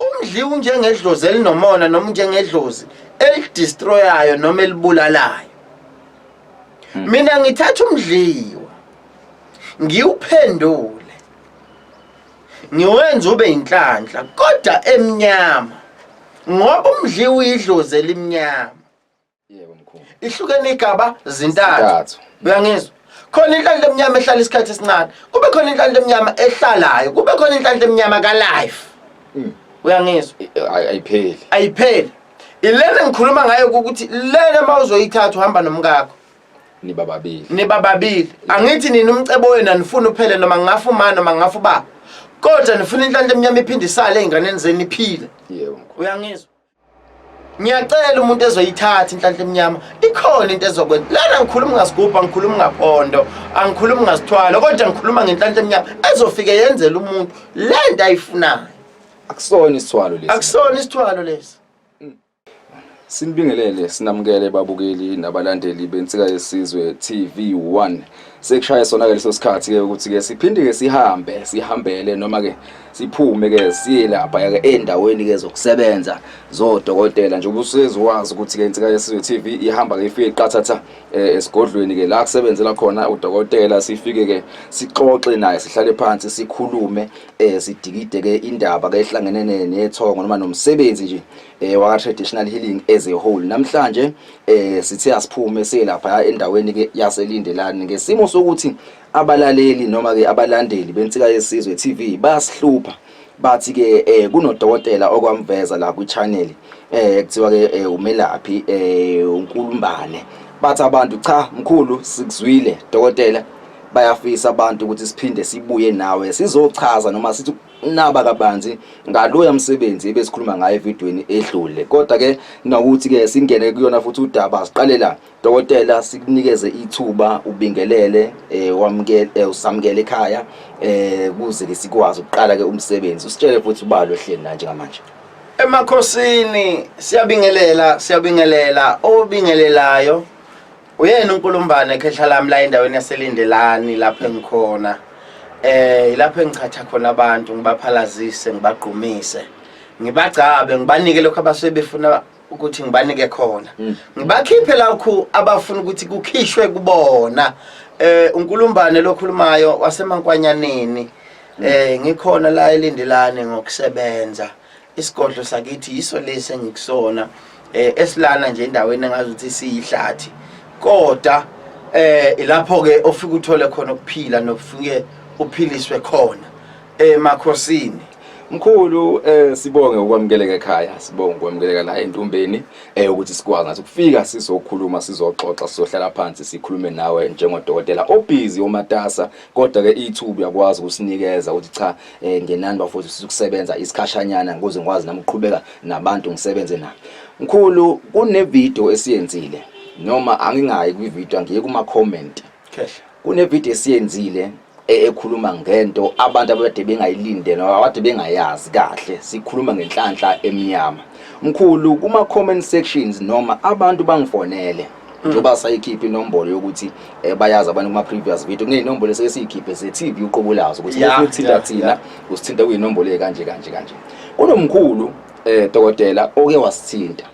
Umdli unjengedlozi elinomona noma unjengedlozi elidestroyayo noma elibulalayo. Hmm. Mina ngithatha umdliwa ngiwuphendule ngiwenza ube inhlanhla kodwa emnyama ngoba umdliwa uyidlozi elimnyama. Yebo mkhulu. Ihlukene igaba zintathu. Uyangizwa? khona inhlanhla emnyama ehlala isikhathi esincane kube khona inhlanhla emnyama ehlalayo kube khona inhlanhla emnyama ka-life hmm. uyangizwa ayipheli ayipheli ilena ngikhuluma ngayo ukuthi lena uma uzoyithatha uhamba nomkakho niba babili niba babili angithi nina umcebo wenu anifuni uphele noma ngingafa umani noma ngingafa ubaba kodwa nifuna inhlanhla emnyama iphinde isale ey'nganeni zenu iphile uyangizwa ngiyacela umuntu ezoyithatha inhlanhla emnyama ikhona into ezokwenza lana ngikhuluma ngasigubhu angikhulumi ngaphondo angikhulumi ngasithwalo kodwa ngikhuluma ngenhlanhla emnyama ezofike yenzela umuntu le nto ayifunayo akusona isithwalo lesi akusona isithwalo lesi mm. sinibingelele sinamukele babukeli nabalandeli bensika yesizwe TV 1 sekushaye sona ke leso sikhathi ke ukuthi ke siphinde ke sihambe sihambele noma ke siphume ke siye lapha ke endaweni ke zokusebenza zodokotela nje ubusizi wazi ukuthi ke insika yesizwe TV ihamba ke ifike iqathatha eh, esigodlweni ke la kusebenzela khona udokotela sifike ke sixoxe naye sihlale phansi sikhulume eh, sidikide ke indaba ke ehlangene nethongo noma nomsebenzi nje eh waka traditional healing as a whole namhlanje eh sithe asiphume selapha endaweni ke yaselindelani ngesimo sokuthi abalaleli noma ke abalandeli bensika yesizwe TV bayasihlupha bathi ke eh kunodokotela okwamveza la ku channel eh kuthiwa ke eh, umelaphi eh uNkulumbane bathi abantu cha mkhulu sikuzwile dokotela bayafisa abantu ukuthi siphinde sibuye nawe sizochaza noma sithi naba kabanzi ngaloya msebenzi ebesikhuluma ngayo evidweni edlule kodwa ke nokuthi ke singene kuyona futhi udaba siqale la dokotela sikunikeze ithuba ubingelele eh wamukele eh, usamukele ekhaya eh kuze ke sikwazi ukuqala ke umsebenzi usitshele futhi ubalo hleni la njengamanje emakhosini siyabingelela siyabingelela obingelelayo Uyena uNkulumbane ekhehla lami la endaweni yaseLindelani lapho engikhona. Eh ilapho engichatha khona abantu ngibaphalazise ngibagqumise. Ngibagcabe ngibanike lokho abasuke befuna ukuthi ngibanike khona. Mm. Ngibakhiphe lakho abafuna ukuthi kukhishwe kubona. Eh uNkulumbane lokhulumayo waseMankwanyaneni. Mm. Eh ngikhona la eLindelani ngokusebenza. isigodlo sakithi yiso lesi engikusona eh esilana nje endaweni engazi ukuthi siyihlathi kodwa eh ilapho ke ofika uthole khona ukuphila nokufike uphiliswe khona emakhosini eh, Mkhulu eh sibonge ukwamukeleka ekhaya sibonge ukwamukeleka la entumbeni eh ukuthi sikwazi ngathi ukufika sizokhuluma sizoxoxa sizohlala phansi sikhulume nawe njengodokotela obhizi omatasa kodwa ke ithubu yakwazi ukusinikeza ukuthi cha eh ngenani bafowethu sisukusebenza isikhashanyana ukuze ngikwazi nami ukuqhubeka nabantu ngisebenze nabo mkhulu kune video esiyenzile noma angingayi kwi video ngiye kuma comment khehla kune video esiyenzile e, ekhuluma ngento abantu abade bengayilinde noma abade bengayazi kahle sikhuluma ngenhlanhla emnyama mkhulu kuma comment sections noma abantu bangifonele njengoba sayikhipha inombolo yokuthi eh, bayazi abantu kuma previous video kuneyinombolo esike siyikhiphe ze TV uqobo lazo ukuthi Yeah, usithinta yeah, thina yeah. usithinta kuyinombolo ekanje kanje kanje kunomkhulu eh dokotela oke wasithinta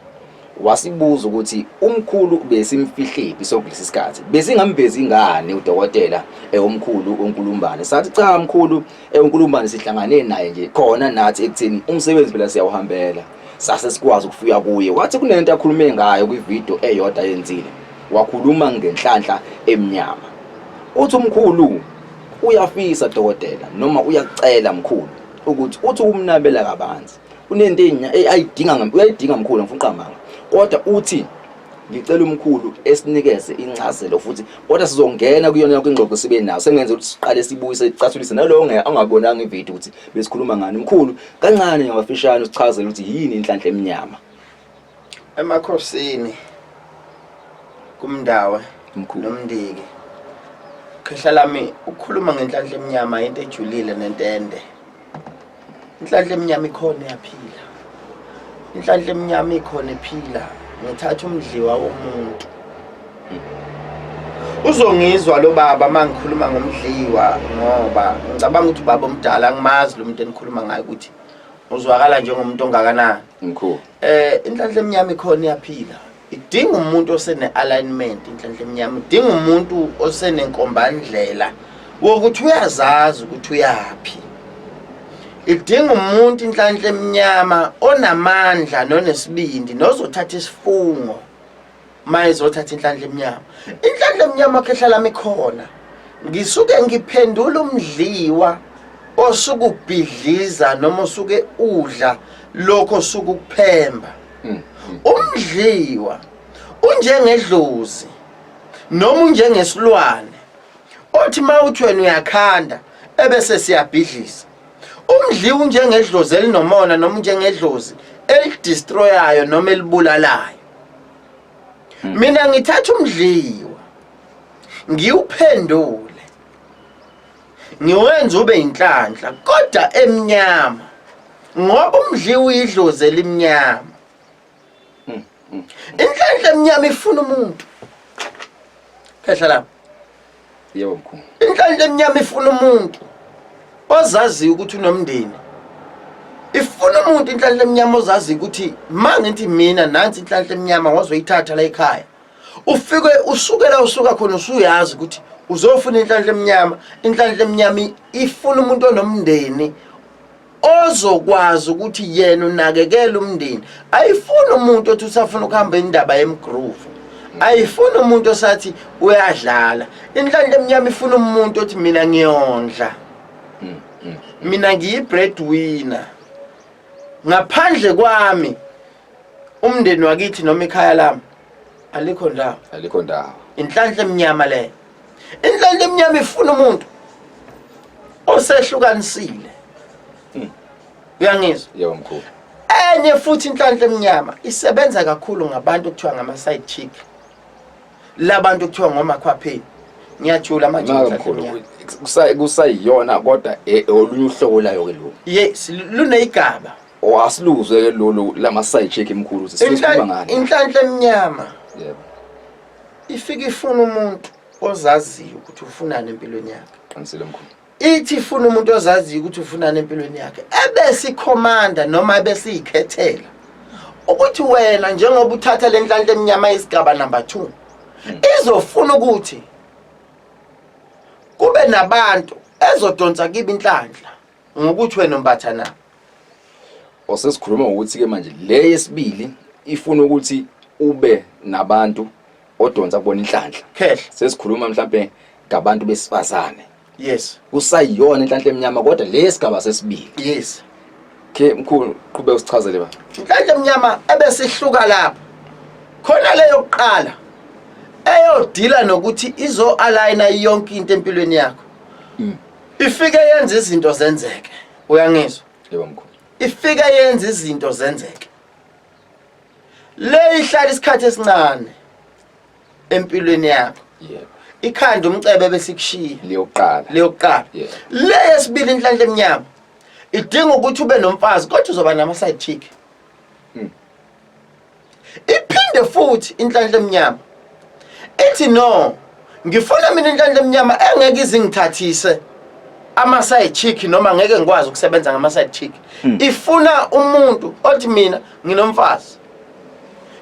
wasibuza ukuthi umkhulu besimfihlephi sokulesi sikhathi besingamvezi ingane udokotela eh, omkhulu uNkulumbane sathi cha mkhulu eh, uNkulumbane sihlangane naye nje khona nathi ekutheni umsebenzi phela siyawuhambela sase sikwazi ukufika kuye wathi kunento akhulume ngayo kwivideo eyodwa yenzile wakhuluma ngenhlanhla emnyama uthi umkhulu uyafisa dokotela noma uyakucela mkhulu ukuthi uthi umnabela kabanzi kunento eh, ayidinga uyayidinga mkhulu ngifuna uqambanga kodwa uthi ngicela umkhulu esinikeze incazelo futhi kodwa sizongena kuyona yonke ingxoxo sibe nayo sengenza ukuthi siqale sibuyise sicathulise nalowo ngeke angabonanga ivideo ukuthi besikhuluma ngani mkhulu Kancane ngamafishane usichazele ukuthi yini inhlanhla emnyama. Emakhosini kumndawe Mkhulu. nomndiki. Khehla lami ukhuluma ngenhlanhla emnyama into ejulile nentende. Inhlanhla emnyama ikhona yaphila. Inhlanhla emnyama ikhona iphila. Ngithatha umdliwa womuntu. uzongizwa lo baba uma ngikhuluma ngomdliwa ngoba ngicabanga ukuthi ubaba omdala angimazi lo muntu enikhuluma ngayo ukuthi uzwakala njengomuntu ongakanani mkhulu eh inhlanhla emnyama ikhona iyaphila idinga umuntu osene-alignment inhlanhla emnyama idinga umuntu osenenkombandlela wokuthi uyazazi ukuthi uyaphi idinga umuntu inhlanhla emnyama onamandla nonesibindi nozothatha isifungo maye zothatha inhlanhla emnyama inhlanhla emnyama khehla lami khona ngisuke ngiphendula umdliwa osuke ubhidliza noma osuke udla lokho osuke ukuphemba hmm. umdliwa unjengedlozi noma unjengesilwane othi mawuthi wena uyakhanda ebese siyabhidlisa umdliwa unjengedlozi elinomona noma unjengedlozi elidestroyayo noma elibulalayo hmm. mina ngithatha umdliwa ngiwuphendule ngiwenza ube inhlanhla kodwa emnyama ngoba umdliwa uyidlozi elimnyama hmm, hmm. inhlanhla emnyama ifuna umuntu phehla lapha Yebo mkhulu. Inhlanhla emnyama ifuna umuntu ozaziyo ukuthi unomndeni. Ifuna umuntu inhlanhla emnyama ozaziyo ukuthi mangithi mina nansi inhlanhla emnyama wazoyithatha la ekhaya. Ufike usukela usuka khona usuyazi ukuthi uzofuna inhlanhla emnyama, inhlanhla emnyama ifuna umuntu onomndeni ozokwazi ukuthi yena unakekela umndeni ayifuni umuntu othi usafuna ukuhamba indaba yemgroove ayifuni umuntu osathi uyadlala inhlanhla emnyama ifuna umuntu othi mina ngiyondla mina ngiyibreadwinner ngaphandle kwami umndeni wakithi noma ikhaya lami alikho ndawo alikho ndawo inhlanhla emnyama leyo indlela lemnyama ifuna umuntu osehlukanisile hmm. uyangizwa yebo mkhulu enye futhi inhlanhla emnyama isebenza kakhulu ngabantu okuthiwa ngama side chick labantu okuthiwa ngomakhwapheni ngiyajula manje kusayiyona kodwa e, olunye uhlobo layo ke lo yes luneyigaba owasiluzwe oh, ke lolu lama side check emkhulu sisikhuluma ngani inhlanhla emnyama yebo ifike ifuna umuntu ozaziyo ukuthi ufunani empilweni yakhe qinisile mkhulu ithi ifuna umuntu ozaziyo ukuthi ufunani empilweni yakhe ebesikhomanda noma ebesiyikhethela ukuthi wena njengoba uthatha le nhlanhla emnyama yesigaba number two hmm. izofuna ukuthi kube nabantu ezodonsa kibi inhlanhla ngokuthi wena mbatha na osesikhuluma ngokuthi ke manje le yesibili ifuna ukuthi ube nabantu odonsa kubona inhlanhla khehla sesikhuluma mhlambe ngabantu besifazane yes kusayiyona inhlanhla emnyama kodwa le sigaba sesibili yes ke mkhulu qhube usichazele ba inhlanhla emnyama ebesihluka lapho khona leyo kuqala eyodila nokuthi izo aligna yonke into empilweni yakho mm. ifike yenza izinto zenzeke uyangizwa yebo mkhulu ifike yenza izinto zenzeke le ihlala isikhathi esincane empilweni yakho yebo ikhanda umcebe bese ikushiya liyoqala leyokuqala Yeah. le yesibili inhlanhla emnyama idinga ukuthi ube nomfazi kodwa uzoba nama side chick iphinde futhi inhlanhla emnyama ithi no ngifuna mina inhlanhla emnyama engeke izingithathise ama-side chick noma ngeke ngikwazi ukusebenza ngama-side chick hmm. ifuna umuntu othi mina nginomfazi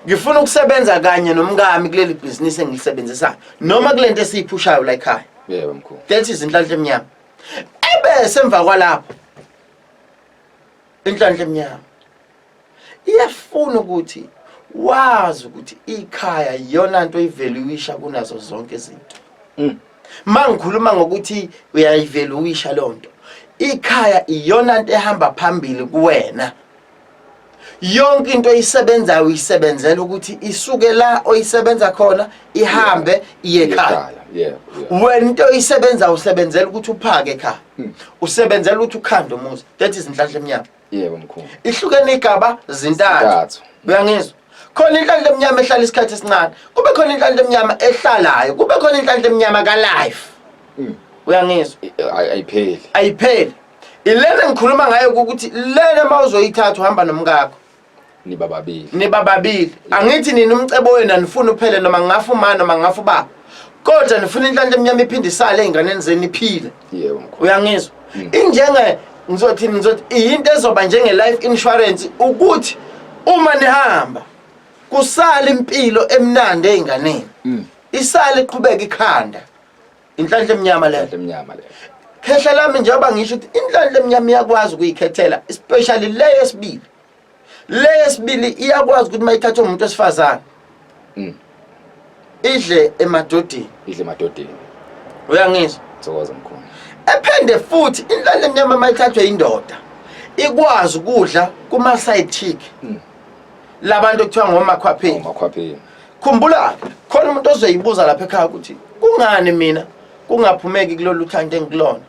ngifuna ukusebenza kanye nomkami kuleli bhizinisi engilisebenzisayo noma kule nto esiyiphushayo la ekhaya yebo mkhulu that is inhlanhla emnyama ebese emva kwalapho inhlanhla emnyama iyafuna ukuthi wazi ukuthi ikhaya iyona nto ivaluisha kunazo zonke izinto mm. mangikhuluma ngokuthi uyayivaluisha lonto ikhaya iyona nto ehamba phambili kuwena yonke into oyisebenzayo uyisebenzela ukuthi isuke la oyisebenza khona ihambe iye ekhaya wena into oyisebenzayo usebenzela ukuthi uphake ekhaya hmm. usebenzela ukuthi ukhande umuzi that is inhlanhla emnyama yebo mkhulu ihlukene igaba zintathu uyangizwa khona inhlanhla emnyama ehlala isikhathi esincane kube khona inhlanhla emnyama ehlalayo kube khona inhlanhla emnyama kalife hmm. uyangizwa ayipheli ayipheli ilena ngikhuluma ngayo ukuthi lena uma uzoyithatha uhamba nomkakho niba babili niba babili angithi nini umcebo wenu anifuni uphele noma ngafa uma noma ngafa ubaba kodwa nifuna inhlanhla emnyama iphinde isale ey'nganeni zenu iphile yebo mkhulu uyangizwa Mm. injenge ngizothini ngizothi iyinto ezoba njenge-life insurance ukuthi uma nihamba kusale impilo emnandi ey'nganeni Mm. isale iqhubeka ikhanda inhlanhla emnyama leyo Inhlanhla emnyama leyo khehla lami njengoba ngisho ukuthi inhlanhla emnyama iyakwazi ukuyikhethela especially le yesibili le yesibili iyakwazi ukuthi mayithatha umuntu wesifazane mm. idle emadodini idle emadodini uyangizwa thokoza mkhulu ephende futhi inhlale emnyama mayithathwe indoda ikwazi ukudla kuma side chick mm. labantu okuthiwa ngomakhwapheni ngomakhwapheni khumbula khona umuntu ozoyibuza lapha ekhaya ukuthi kungani mina kungaphumeki kulolu thanda engikulona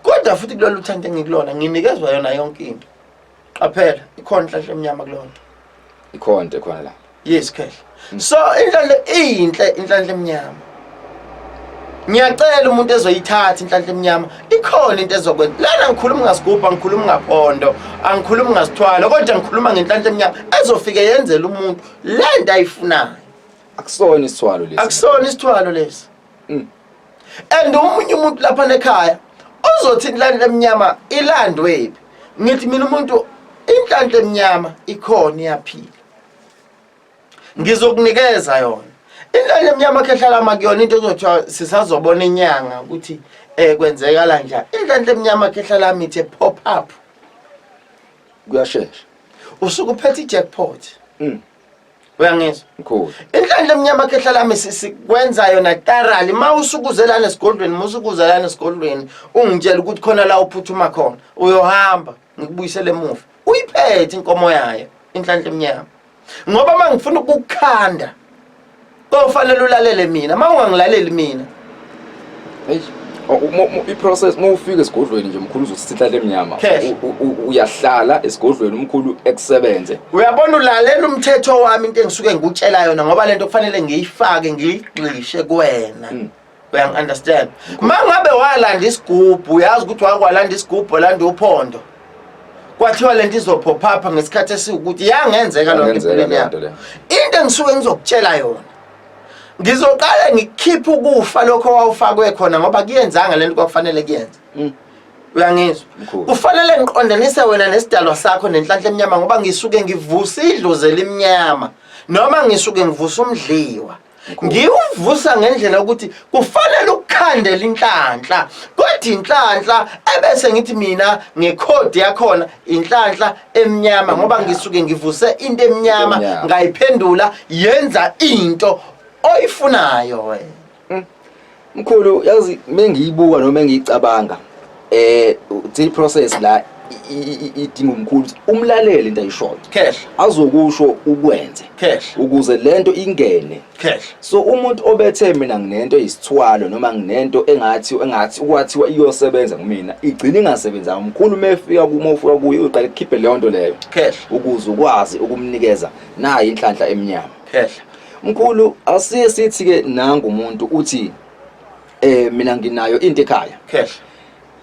kodwa futhi kulolu thanda engikulona nginikezwa yona yonke into qaphela ikhona inhlanhla emnyama kulona ikhona into ekhona la yes khehla hmm. so inhlanhla iyinhle inhlanhla emnyama ngiyacela umuntu ezoyithatha inhlanhla emnyama ikhona into ezokwenza lana ngikhuluma ngasigubhu angikhulumi ngaphondo angikhulumi ngasithwalo kodwa ngikhuluma ngenhlanhla emnyama ezofike yenzela umuntu le nto ayifunayo akusona isithwalo lesi akusona isithwalo lesi mm. and omunye umuntu lapha nekhaya uzothi inhlanhla emnyama ilandwe phi ngithi mina umuntu inhlanhla emnyama ikhona iyaphila ngizokunikeza yona inhlanhla emnyama khehlala makuyona into ezothiwa sisazobona inyanga ukuthi eh kwenzeka la njani inhlanhla emnyama khehlala mithe pop up kuyashesha usuke uphethe ijackpot mm. uyangizwa mkhulu inhlanhla emnyama khehla lami sikwenza yona tarali uma usukuzelana esigodlweni uma usukuzelana esigodlweni ungitshela ukuthi khona la uphuthuma khona uyohamba ngikubuyisele emuva uyiphethe inkomo yayo inhlanhla emnyama ngoba uma ngifuna ukukukhanda kofanele ulalele mina uma ungangilaleli mina i-process uma ufika esigodlweni nje mkhulu uzosithatha emnyama uyahlala esigodlweni umkhulu ekusebenze uyabona ulalela umthetho wami into engisuke ngikutshela yona ngoba lento kufanele ngiyifake ngiyigxishe kuwena hmm. uyangi understand mangabe walanda isigubhu uyazi ukuthi wakwalanda isigubhu olanda uphondo kwathiwa lento izophopha ngesikhathi esiwukuthi yangenzeka loo nto empilweni yakho into engisuke ngizokutshela yona ngizoqale ngikhiphe ukufa lokho wawufakwe khona ngoba kuyenzanga lento kwakufanele kuyenze mm. uyangizwa kufanele ngiqondanise wena nesidalwa sakho nenhlanhla emnyama ngoba ngisuke ngivusa idlozi elimnyama noma ngisuke ngivusa umdliwa ngiwuvusa ngendlela yokuthi kufanele ukukhandela inhlanhla kodwa inhlanhla ebese ngithi mina ngekhodi yakhona inhlanhla emnyama ngoba ngisuke ngivuse into emnyama ngayiphendula yenza into oyifunayo wena Mkhulu yazi mengiyibuka noma engiyicabanga eh the process la idinga umkhulu ukuthi umlalele into ayishoyo cash azokusho ukwenze cash ukuze lento ingene cash so umuntu obethe mina nginento isithwalo noma nginento engathi engathi ukwathiwa iyosebenza kumina igcina ingasebenzanga umkhulu mefika kuma ufika kuye uqale kukhiphe leyo nto leyo cash ukuze ukwazi ukumnikeza nayi inhlanhla emnyama cash Mkhulu asiye sithi ke nangu umuntu uthi eh mina nginayo into ekhaya. Cash.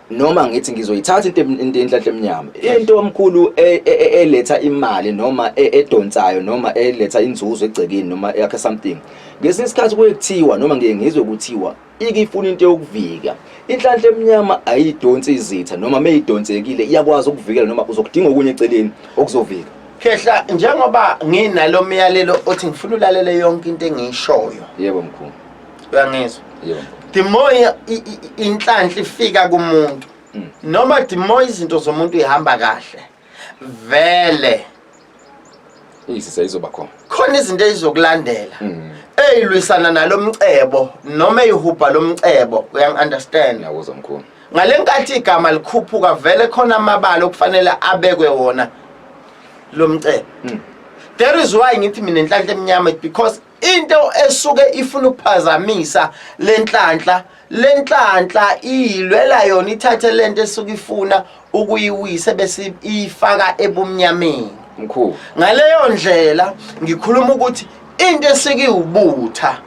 noma ngithi ngizoyithatha into into enhlanhla emnyama into omkhulu e- e- e- eletha imali noma e- edonsayo noma eletha inzuzo egcekeni noma yakhe something ngesinye isikhathi kuye kuthiwa noma ngiye ngizwe kuthiwa Ike ifuna into yokuvika. Inhlanhla emnyama ayidonsi izitha noma meyidonsekile iyakwazi ukuvikela noma uzokudinga okunye eceleni okuzovika. Khehla njengoba nginalo myalelo othi ngifuna ulalele yonke into engiyishoyo. Yebo mkhulu. Uyangizwa? Yebo. The more inhlanhla ifika kumuntu mm. noma the more izinto zomuntu ihamba kahle. vele uyisisa izoba khona khona izinto ezizokulandela mm. eyilwisana nalomcebo noma eyihubha lomcebo uyang understand ngiyakuzwa mkhulu ngalenkathi igama likhuphuka vele khona amabala okufanele abekwe wona lomcebo mm. there is why ngithi mina inhlanhla emnyama because into esuke ifuna ukuphazamisa lenhlanhla lenhlanhla iyilwela yona ithathe lento esuke ifuna ukuyiwisa bese iyifaka ebumnyameni mkhulu ngaleyo ndlela ngikhuluma ukuthi into esuke iwubutha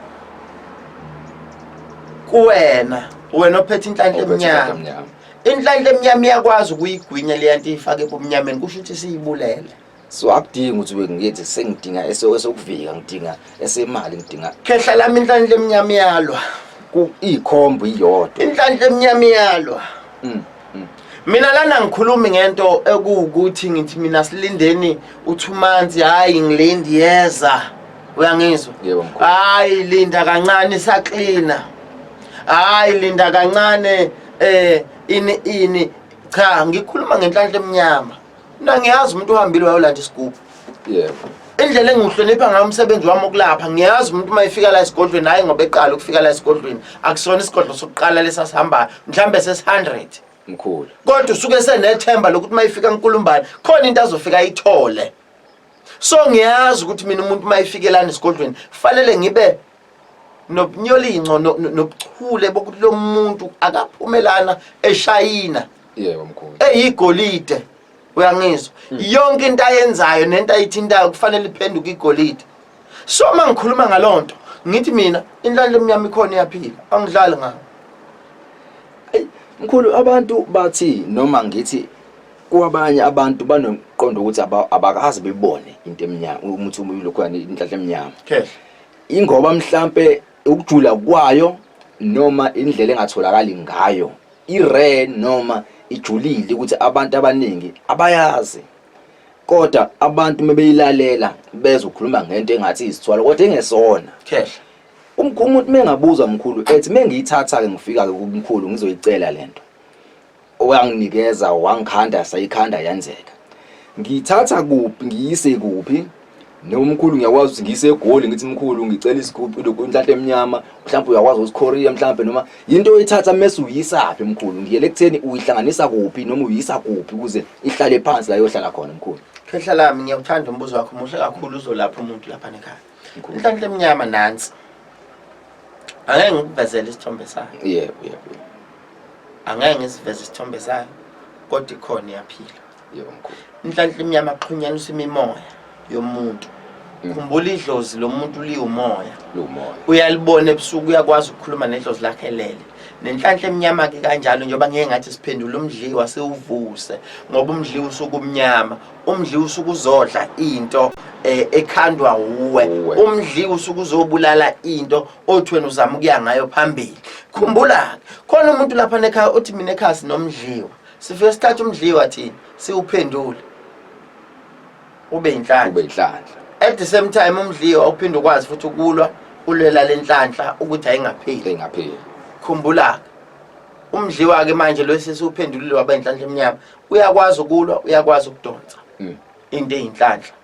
kuwena wena ophethe inhlanhla emnyama inhlanhla emnyama iyakwazi ukuyigwinya leyanto iyifake ebumnyameni kusho ukuthi siyibulele so akudingi ukuthi ube ngithi sengidinga esokuvika ngidinga esemali ngidinga khehla lami inhlanhla emnyama iyalwa ikhombo iyodwa inhlanhla emnyama iyalwa mm, mm. mina lana ngikhulumi ngento ekuwukuthi ngithi mina silindeni uthi umanzi hhayi ngilindi yeza uyangizwa hhayi linda kancane saklina hhayi linda kancane um ini ini cha ngikhuluma ngenhlanhla emnyama Mina ngiyazi umuntu uhambile wayolanda isigubhu. Yebo. Indlela engiwuhlonipha ngayo umsebenzi wami wokulapha ngiyazi umuntu uma efika la esigodlweni hayi ngoba eqala ukufika la esigodlweni akusona isigodlo sokuqala lesasihambayo mhlawumbe sesi-100 Mkhulu. kodwa usuke senethemba lokuthi uma ifika enkulumbane khona into azofika ayithole so ngiyazi ukuthi mina umuntu uma efikelani esigodlweni kufanele ngibe nobunyolinco no- no- nobuchule bokuthi lo muntu akaphumelana eshayina yebo mkhulu eyigolide uyangizwa yonke into ayenzayo nento ayithintayo kufanele iphenduke igolide so uma ngikhuluma ngaloo nto ngithi mina inhlanhla emnyama ikhona iyaphila angidlali ngayo mkhulu abantu bathi noma ngithi kwabanye abantu banomqondo ukuthi aba- abakazi bebone into emnyama umuthi umlokhwana inhlahla emnyama khehla Ingoba mhlampe ukujula kwayo noma indlela engatholakali ngayo i-rare noma ijulile ukuthi abantu abaningi abayazi kodwa abantu mebeyilalela bezwe ukhuluma ngento engathi izithwala kodwa engesona khehla umuntu mengabuza mkhulu ethi mengiyithatha ke ngifika ke kumkhulu ngizoyicela lento owanginikeza wangikhanda sayikhanda yenzeka ngiyithatha kuphi ngiyise kuphi nomkhulu ngiyakwazi ukuthi ngiyise egoli ngithi mkhulu ngicela isigubhu inhlahla emnyama mhlawumbe uyakwazi usikhoria mhlawumbe noma yinto oyithatha mese uyisaphi mkhulu ngiyele kutheni uyihlanganisa kuphi noma uyisa kuphi ukuze ihlale phansi la yohlala khona mkhulu khehla lami ngiyakuthanda umbuzo wakho muhle kakhulu uzolapha umuntu lapha nekhaya Ngikhuluma. inhlanhla emnyama nansi angeke ngikuvezele isithombe sayo yebo yebo yebo. angeke ngisiveze isithombe sayo kodwa ikhona iyaphila yebo mkhulu inhlanhla emnyama axhunyaniswa imimoya yomuntu Mm. khumbula idlozi lomuntu liwumoya lumoya uyalibona ebusuku uyakwazi ukukhuluma nedlozi lakhe lele nenhlanhla emnyama-ke kanjalo njengoba ngeke ngathi siphendula umdliwa siwuvuse ngoba umdliwa usuke umnyama umdli usuke uzodla into eh, ekhandwa uwe umdli usuke uzobulala into othi wena uzama ukuya ngayo phambili khumbula khona umuntu lapha nekhaya uthi mina ekhaya sinomdliwa sifike sithatha umdliwa thina siwuphendule ube inhlanhla ube inhlanhla at the same time umdliwa uphinde ukwazi futhi ukulwa ulwela lenhlanhla ukuthi ayingapheli ingapheli khumbula umdliwa ke manje lo sesiwuphendulile waba inhlanhla emnyama uyakwazi ukulwa uyakwazi ukudonsa mm. into eyinhlanhla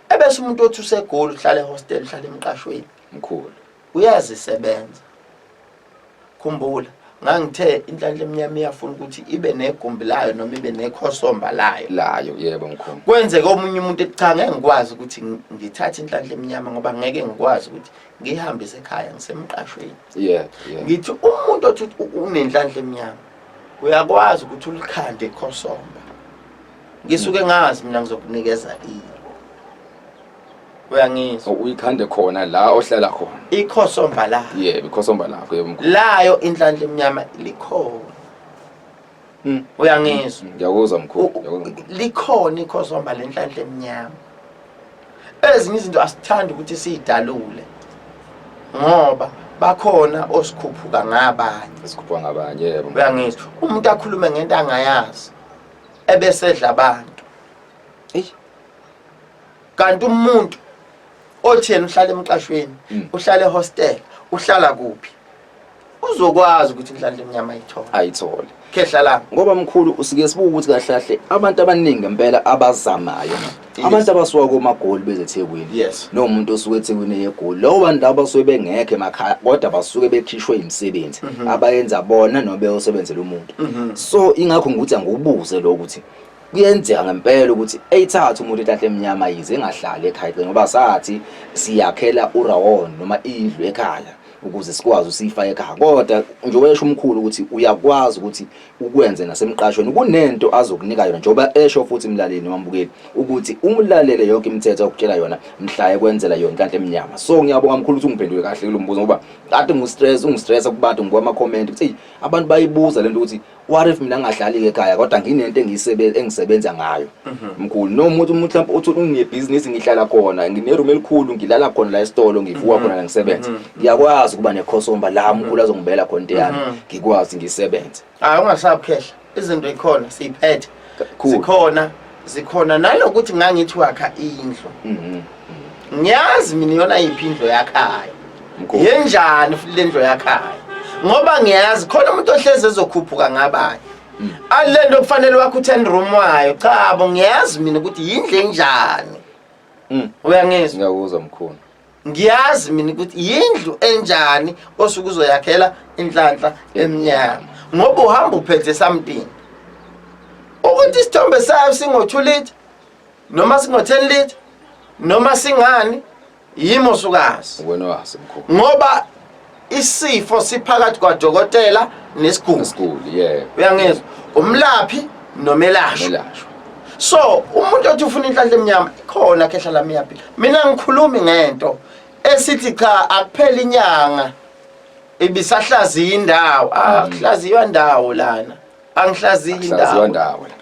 ebese umuntu othi usegoli uhlala ehostel uhlala emqashweni mkhulu uyazisebenza khumbula ngangithe inhlanhla emnyama iyafuna ukuthi ibe negumbi layo noma ibe nekhosomba layo layo yebo mkhulu kwenzeka omunye umuntu cha ngeke ngikwazi ukuthi ngithathe inhlanhla emnyama ngoba ngeke ngikwazi ukuthi ngihambise ekhaya ngisemqashweni yeah, yeah. ngithi umuntu othi unenhlanhla emnyama uyakwazi ukuthi ulikhande ikhosomba ngisuke ngazi mina ngizokunikeza ini uyangizwa oh, uyikhande khona la ohlala khona ikhosomba la yebo ikhosomba lakho yebo mkhulu layo inhlanhla emnyama likhona hmm. uyangizwa ngiyakuzwa mkhulu likhona ikhosomba lenhlanhla emnyama ezinye izinto asithandi ukuthi siyidalule ngoba bakhona osikhuphuka ngabanye esikhuphuka ngabanye yebo uyangizwa umuntu akhulume ngento angayazi ebesedla abantu eyi kanti umuntu othi yena uhlala emqashweni hmm. uhlala ehostel uhlala kuphi uzokwazi ukuthi kudlala emnyama ayithole ayithole khehla la ngoba mkhulu usike sibuka ukuthi kahle kahle abantu abaningi ngempela abazamayo abantu abasuka komagoli bezethekwini yes nomuntu osuke ethekwini eyegoli lowo bantu labo basuke bengekho emakhaya kodwa basuke bekhishwe imisebenzi mhm. abayenza bona noma beyosebenzela umuntu mhm. so ingakho ngikuthi angiwubuze lo ukuthi kuyenzeka ngempela ukuthi eyithatha umuntu etahle emnyama yize engahlali ekhaya ngoba sathi siyakhela urawon noma indlu ekhaya ukuze sikwazi usiyifake ekhaya kodwa nje wesho umkhulu ukuthi uyakwazi ukuthi ukwenze nasemqashweni kunento azokunika yona njengoba esho futhi imlaleli wambukeli ukuthi umlalele yonke imithetho okutshela yona mhlaye kwenzela yona kanti emnyama so ngiyabonga mkhulu ukuthi ungiphendule kahle kulombuzo ngoba kade ngistress ungistressa kubantu ngoba ama comment ukuthi abantu bayibuza lento ukuthi what if mina ngadlali ekhaya kodwa nginento engiyisebenza engisebenza ngayo mhm. mkhulu no umuntu umuntu mhlawumbe uthi unebhizinisi ngihlala khona ngineroom elikhulu ngilala khona la esitolo ngivuka mhm. khona la ngisebenza mhm. ngiyakwazi ukuba nekhosomba la mkhulu azongibela khona into yami ngikwazi ngisebenze hayi ungasabukhehla izinto ikhona siyiphethe Cool. zikhona zikhona nanokuthi ngangithi wakha indlu Mhm. ngiyazi mina iyona yiphi indlu yakhayo Mkhulu. yenjani futhi le ndlu yakhayo ngoba ngiyazi khona umuntu ohlezi ezokhuphuka ngabanye Mm. ali le nto kufanele wakho u-ten room wayo cha bo ngiyazi mina ukuthi yindlu enjani Mm. uyangizwa Ngiyakuzwa mkhulu. ngiyazi mina ukuthi yindlu enjani osuke uzoyakhela inhlanhla emnyama ngoba uhamba uphethe something ukuthi isithombe sayo singo-2 liter noma singo-10 liter noma singani yimo sukazi ngoba isifo siphakathi kwadokotela nesiguli isiguli yeah uyangizwa umlaphi nomelashwa melashwa so umuntu othi ufuna inhlanhla emnyama khona khehla lami yapi mina ngikhulumi ngento esithi cha akuphela inyanga ibisahlaziya indawo ah kuhlaziywa ndawo lana angihlaziyi Mm. Saziwa indawo ndawo la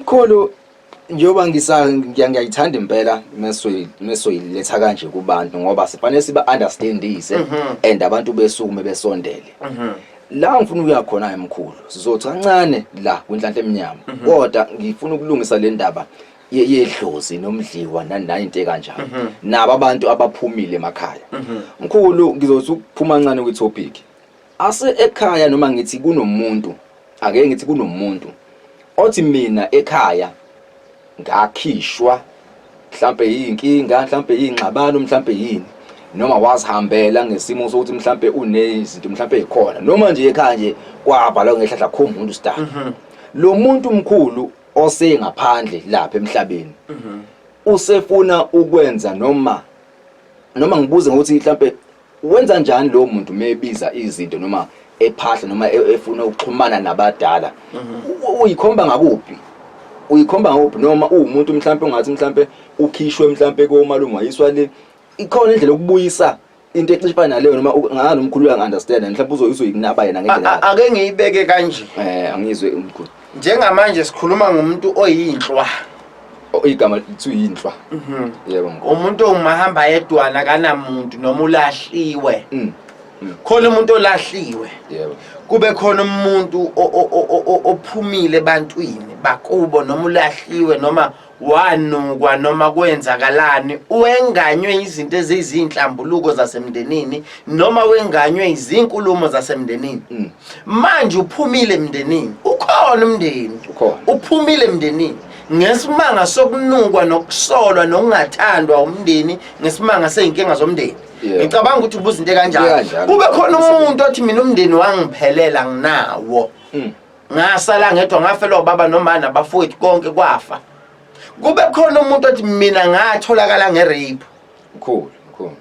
mkhulu njengoba ngiyayithanda impela mesoyiletha kanje kubantu ngoba sifanele siba-understandise mhm. and abantu besukume besondele mhm. la ngifuna ukuya khona-ke mkhulu sizothi kancane la kwinhlanhla emnyama mhm. kodwa ngifuna ukulungisa le ndaba yedlozi nomdliwa nanayinto ekanjalo nabo abantu abaphumile emakhaya mkhulu ngizothi ukuphuma ncane kwi-topic Ase ekhaya noma ngithi kunomuntu, ake ngithi kunomuntu othi mina ekhaya ngakhishwa mhlambe yinkinga, mhlambe yingxabano, mhlambe yini noma wazihambela ngesimo sokuthi mhlambe unezinto mhlambe ekhona noma nje ekhaya nje kwavalwa ngehlahla kho umuntu star. Mhm. Lo muntu mkhulu osengaphandle lapha emhlabeni mhm. usefuna ukwenza noma noma ngibuze ngokuthi mhlambe Wenza njani lowo muntu uma ebiza izinto noma ephahla noma e- efuna ukuxhumana nabadala U- uyikhomba ngakuphi uyikhomba ngakuphi noma uwumuntu mhlawumpe ungathi mhlawumpe ukhishwe mhlawumpe komalume wayiswa le ikhona indlela yokubuyisa into exishifana naleyo noma u- ngani umkhulu uyangi-understanda mhlawumpe uzoyisa uyikunaba yena ngendlela A- a- yakhe. ake ngiyibeke kanje Eh angizwe umkhulu. njengamanje sikhuluma ngomuntu oyinhlwa O- igama lithi uyinhlwa Mhm. yebo mkhulu umuntu ongumahamba yedwana akanamuntu noma ulahliwe Mm, khona umuntu olahliwe yebo kube khona umuntu o- o- o- o- o- ophumile ebantwini bakubo noma ulahliwe noma wanukwa noma kwenzakalani wenganywe izinto ezizinhlambuluko zasemndenini noma wenganywe izinkulumo zasemndenini mm. manje uphumile emndenini ukhona umndeni uphumile emndenini ngesimanga sokunukwa nokusolwa nokungathandwa umndeni ngesimanga seyinkinga zomndeni ngicabanga ukuthi ubuzinto kanjani kube khona umuntu othi mina umndeni wangiphelela nginawo mm. ngasala ngedwa ngafelwa ubaba nomama nabafowethu konke kwafa kube khona umuntu othi mina ngatholakala ngerape cool cool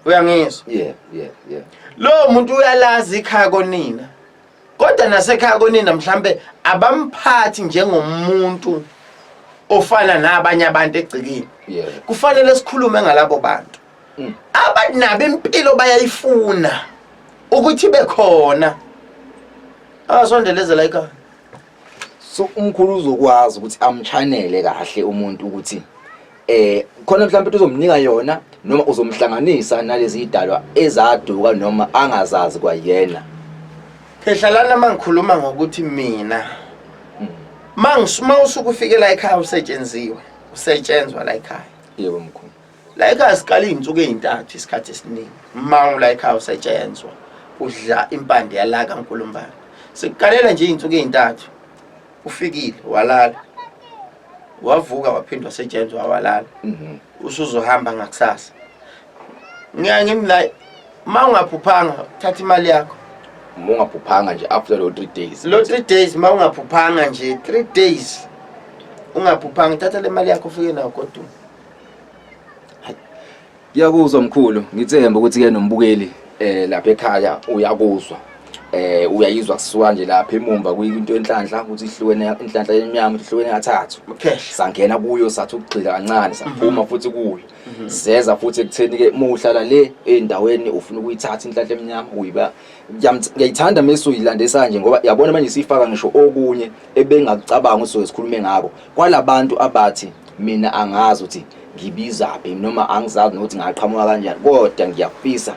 uyangizwa yeah yeah yeah lo muntu uyalazi ikhaya konina kodwa nasekhaya konina mhlambe abamphathi njengomuntu ofana nabanye abantu egcikini kufanele sikhulume ngalabo bantu mm. abantu nabo impilo bayayifuna ukuthi bekhona asondelezela ikhaya so umkhulu uzokwazi ukuthi amchanele kahle umuntu ukuthi eh khona mhlawumbe ukuthi uzomnika yona noma uzomhlanganisa nalezi idalwa ezaduka noma angazazi kwayena ehlalana mangikhuluma ngokuthi mina hmm. mangisuma usukufikela ekhaya usetshenziwe usetshenzwa la ekhaya yebo mkhulu la ekhaya siqala iy'nsuku ey'ntathu isikhathi esiningi mmango la ekhaya usetshenzwa udla impande yalaka nkulumbane sikuqalela nje iy'nsuku ey'ntathu ufikile walala wavuka waphindwa setshenzwa walala mhm. usuzohamba ngakusasa ngiya ngimi la uma ungaphuphanga thatha imali yakho uma ungaphuphanga nje after lo three days lo three days uma ungaphuphanga nje three days ungaphuphanga thatha le mali yakho ufike nawo kodwa Yakuzwa mkhulu ngithemba ukuthi ke nombukeli eh lapha ekhaya uyakuzwa eh uyayizwa kusuka nje lapha emumva kuyinto enhlanhla ukuthi ihlukene inhlanhla emnyama ihlukene kathathu sangena kuyo sathi ukugxila kancane saphuma mhm. futhi kuyo mhm. seza futhi ekutheni ke muhlala le endaweni ufuna ukuyithatha inhlanhla emnyama uyiba ngiyayithanda mase uyilandisa nje ngoba yabona manje sifaka ngisho okunye ebengakucabanga ukuthi sikhulume ngako kwalabantu abathi mina angazi ukuthi ngibizaphi noma angizazi nokuthi ngaqhamuka kanjani kodwa ngiyafisa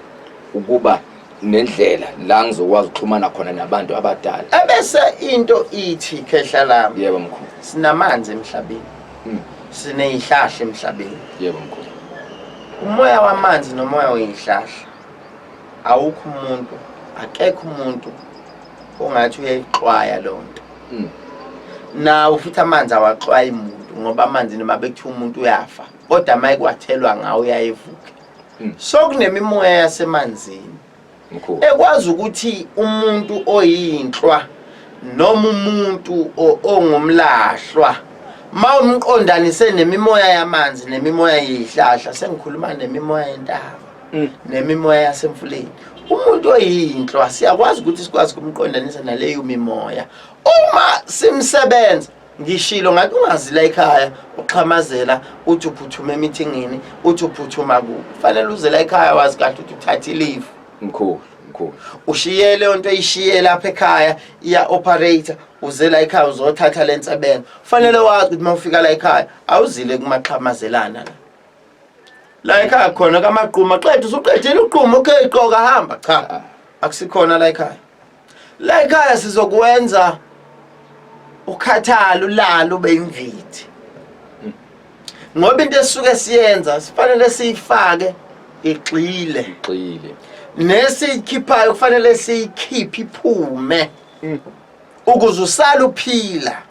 ukuba nendlela la ngizokwazi ukuxhumana khona nabantu abadala ebese into ithi khehla lami yebo mkhulu sinamanzi emhlabeni hmm. sineyihlahla emhlabeni yebo mkhulu umoya wamanzi nomoya weyihlahla awukho umuntu akekho umuntu ongathi uyayixwaya loo nto hmm. nawo futhi amanzi awaxwayi muntu ngoba amanzi noma bekuthiwa umuntu uyafa kodwa uma ekwathelwa ngawo uyayevuke hmm. so kunemimoya yasemanzini ekwazi ukuthi umuntu oyinhlwa noma umuntu ongumlahlwa ma umqondanise nemimoya yamanzi nemimoya yeyihlahla sengikhuluma nemimoya yentaba mm. nemimoya yasemfuleni umuntu oyinhlwa siyakwazi ukuthi sikwazi kumqondanisa naleyo mimoya uma simsebenza ngishilo ngathi ungazi la ekhaya uxhamazela uthi uphuthuma emithingini uthi uphuthuma ku fanele uze la ekhaya wazi kahle ukuthi uthatha ileave mkhulu mkhulu ushiye leyo nto ishiye lapha ekhaya iya operator uze la ekhaya uzothatha lensebenzo fanele wazi ukuthi mawufika la ekhaya awuzile kumaxhamazelana la la ekhaya khona kamaquma qeda usuqedile uquma okay qoka hamba cha akusikhona la ekhaya la ekhaya sizokwenza ukhathalo lalo beyimvithi ngoba into esuke siyenza sifanele siyifake igxile igxile nesiyikhiphayo kufanele siyikhiphe iphume mm. ukuze usale uphila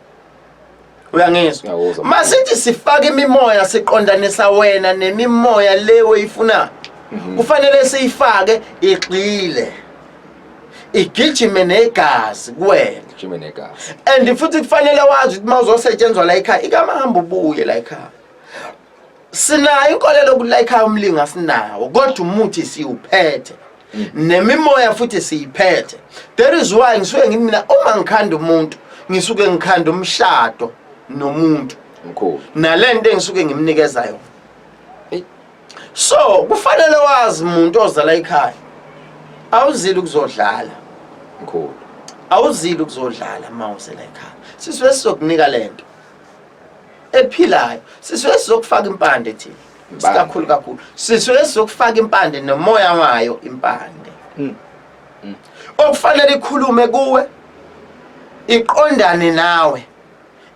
uyangizwa masithi sifaka imimoya siqondanisa wena nemimoya le oyifuna mhm. kufanele siyifake igxile igijime negazi kuwena igijime negazi and futhi kufanele wazi ukuthi mawuzosetshenzwa la ekhaya ikamahamba ubuye la ekhaya sinayo inkolelo yokulayikha umlingo asinawo kodwa umuthi siwuphethe mm. nemimoya futhi siyiphethe there is why ngisuke ngithi mina uma ngikhanda umuntu ngisuke ngikhanda umshado nomuntu mkhulu nalento engisuke ngimnikeza yona so kufanele wazi umuntu ozala ekhaya awuzile ukuzodlala mkhulu awuzile ukuzodlala uma uzela ekhaya siswe sizokunika lento ephilayo sisuke sizokufaka impande thina sikakhulu kakhulu sisuke sizokufaka impande nomoya wayo impande mm. Mm. okufanele ikhulume kuwe iqondane nawe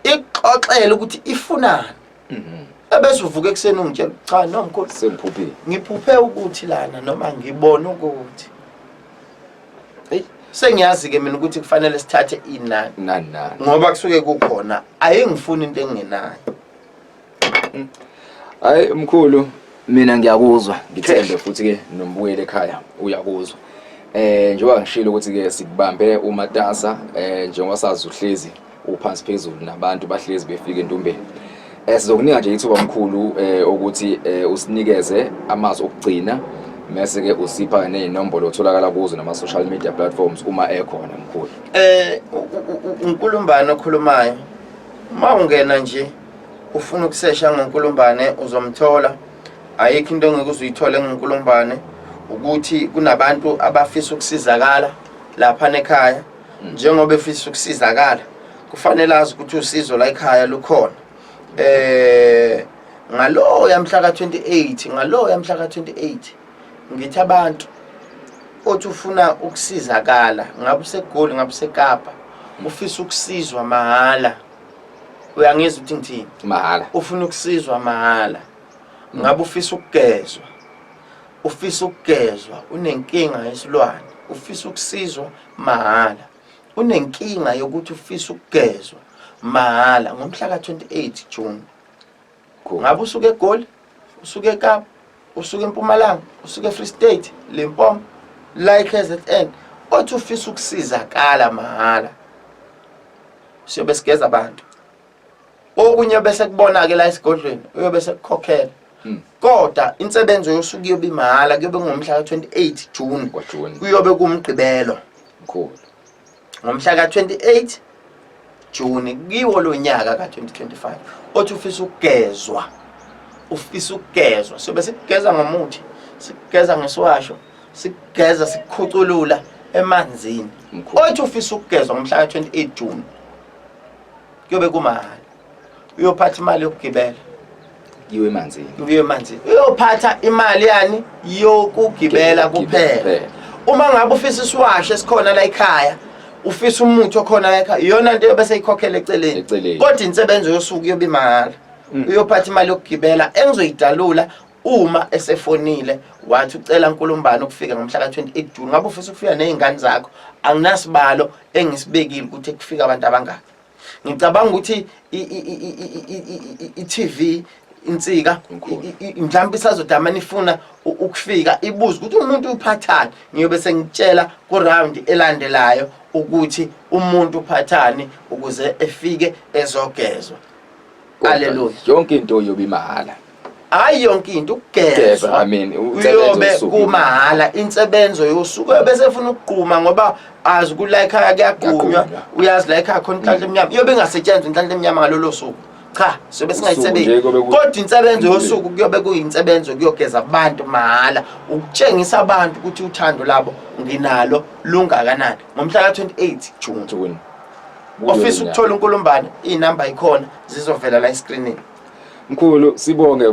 ixoxele ukuthi ifunani mm-hmm. ebese uvuka ekuseni ungitshela cha no mkhulu sengiphuphile ngiphuphe ukuthi lana noma ngibona ukuthi sengiyazi ke mina ukuthi kufanele sithathe inani nani nani ngoba kusuke kukhona ayengifuni into engenayo hayi mkhulu mina ngiyakuzwa ngithembe futhi ke nombuyele ekhaya uyakuzwa eh njengoba ngishilo ukuthi ke sikubambe umatasa eh njengoba sazi uhlezi uphansi phezulu nabantu bahlezi befika entumbeni eh, sizokunika nje ithuba mkhulu eh, ukuthi eh, usinikeze amazwi okugcina mese ke usipha nezinombolo otholakala kuzo nama social media platforms uma ekhona mkhulu eh unkulumbane okhulumayo uma ungena nje ufuna ukusesha ngonkulumbane uzomthola ayikho into engeke uzuyithole ngonkulumbane ukuthi kunabantu abafisa ukusizakala lapha nekhaya njengoba efisa ukusizakala kufanele azi ukuthi usizo la ekhaya lukhona eh ngalowo yamhla ka28 ngalowo yamhla ka28 ngithi abantu othi ufuna ukusizakala ngabe usegoli ngabe usekapa ufisa ukusizwa mahhala uyangizwa ukuthi ngithini mahhala ufuna ukusizwa mahhala ngabe ufisa ukugezwa ufisa ukugezwa unenkinga yesilwane ufisa ukusizwa mahhala unenkinga yokuthi ufisa ukugezwa mahhala ngomhla ka-28 June ngabe usuke egoli usuke ekapa usuke empumalanga usuke efree state limpomo la i-kzn othi ufisa ukusizakala mahhala siyobe sigeza abantu okunye bese kubona-ke la esigodlweni uyobe sekukhokhela hmm. kodwa insebenzo yosuku iyobe imahhala kuyobe kungomhla ka-28 june kuyobe kumgqibelo ngomhla ka-28 june kiwo lo nyaka ka-2025 othi ufisa ukugezwa ufisa ukugezwa sobe sikugeza ngomuthi sikugeza ngesiwasho sikugeza sikukhuculula emanzini othi ufisa ukugezwa ngomhla ka-28 june kuyobe kumahhala uyophatha imali yokugibela yiwe emanzini uye emanzini uyophatha imali yani yokugibela kuphela uma ngabe ufisa isiwasho esikhona la ekhaya ufisa umuthi okhona la ekhaya iyona nto yobe seyikhokhela eceleni Eceleni. kodwa insebenzo yosuku yobe imahhala Mm. uyophatha imali yokugibela engizoyidalula uma esefonile wathi ucela nkulumbani ukufika ngomhla ka-28 june ngabe ufisa ukufika ney'ngane zakho anginasibalo engisibekile ukuthi kufika abantu abangaki ngicabanga ukuthi i-tv insika mhlawumbe isazodama nifuna ukufika ibuze ukuthi umuntu uphathani ngiyobe sengitshela kurawundi elandelayo ukuthi umuntu uphathani ukuze efike ezogezwa Hallelujah. Yonke into yobe imahhala. Hayi yonke into ukugezwa. Amen. Uyobe kumahhala insebenzo yosuku bese efuna ukugquma ngoba azi ku like akuyagqunywa uyazi like akho inhlanhla mm. emnyama. Iyobe ingasetshenzwa inhlanhla emnyama ngalolo suku. Cha, sobe singayisebenzi. Kodwa insebenzo yosuku kuyobe kuyinsebenzo kuyogeza abantu mahhala ukutshengisa abantu ukuthi uthando labo nginalo lungakanani. Ngomhla ka 28 June. ofisa ukuthola unkulumbane iy'namba yikhona zizovela la eskrinini mkhulu sibonge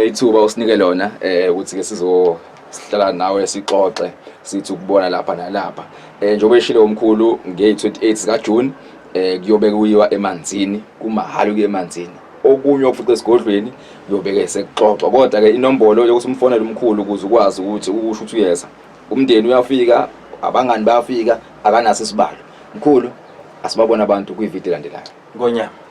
ithuba usinike lona um ukuthi-ke sizohlala nawe sixoxe sithi ukubona lapha nalapha um njengoba eshile umkhulu ngey-28 zikajuni um kuyobe kuyiwa emanzini kumahhala ukuya emanzini okunye okufuqa esigodlweni kuyobeke sekuxoxwa kodwa-ke inombolo yokuthi umfonele umkhulu ukuze ukwazi ukuthi ukusho ukuthi uyeza umndeni uyafika abangani bayafika akanaso isibalo Mkhulu, asibabona abantu kwivideo elandelayo. Ngonyama.